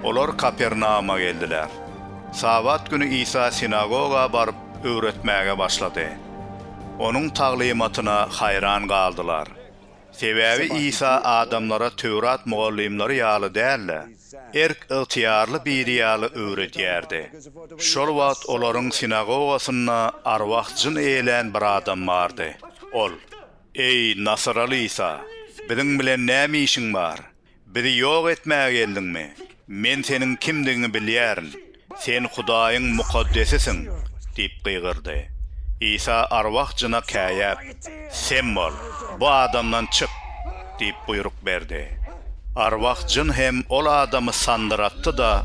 Olar Kapernauma geldiler. Sabat güni Isa sinagoga baryp, öwretmäge başlady. Onuň taglymatyna haýran galdylar. Sebäbi Isa adamlara Töwrat mugallymlary ýaly däl-de, erk-ygtyýarly biri ýaly öwredýärdi. Şol wagt olaryň sinagogasynda arwah-jyn eýlän bir adam bardy. Ol. Eý, nasyraly Isa, biziň bilen näme işiň bar? Bizi ýok etmäge geldiňmi? Men seniň kimdigiňi bilýärin. Sen Hudaýyň mukaddesisiň! diýip gygyrdy. Isa arwah jyna käýäp, Sem bol, bu adamdan çyk! diýip buýruk berdi. Arwah jyn hem ol adamy sandyratdy-da,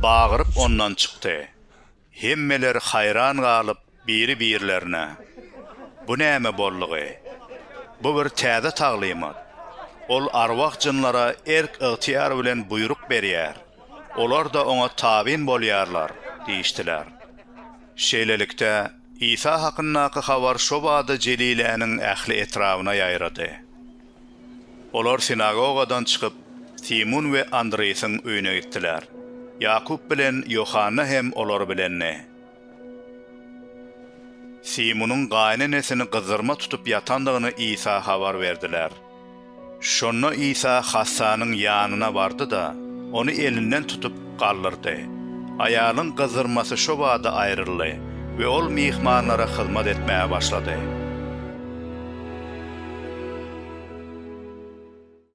bagyryp ondan çykdy. Hemmeler haýran galyp biri-birlerine, Bu näme boldugy? Bu bir täze taglymat. Ol arwah-jynlara erk-ygtyýar bilen buýruk berýär, olar-da oňa tabyn bolýarlar diýişdiler. Şeýlelikde, Isa hakyndaky habar şobada Jeliläniň ähli etrabyna ýaýrady. Olar sinagogadan çykyp, Simun we Andresiň öýüne gitdiler. Ýakup bilen Ýohanna hem olar bilendi. Simunyň gaýynenesini gyzzyrma tutup ýatandygyny Isa habar berdiler. Şonda Isa hassanyň ýanyna bardy-da, ony elinden tutup, galdyrdy. Aýalyň gyzdyrmasy şo bada aýryldy we ol myhmanlara hyzmat etmäge başlady.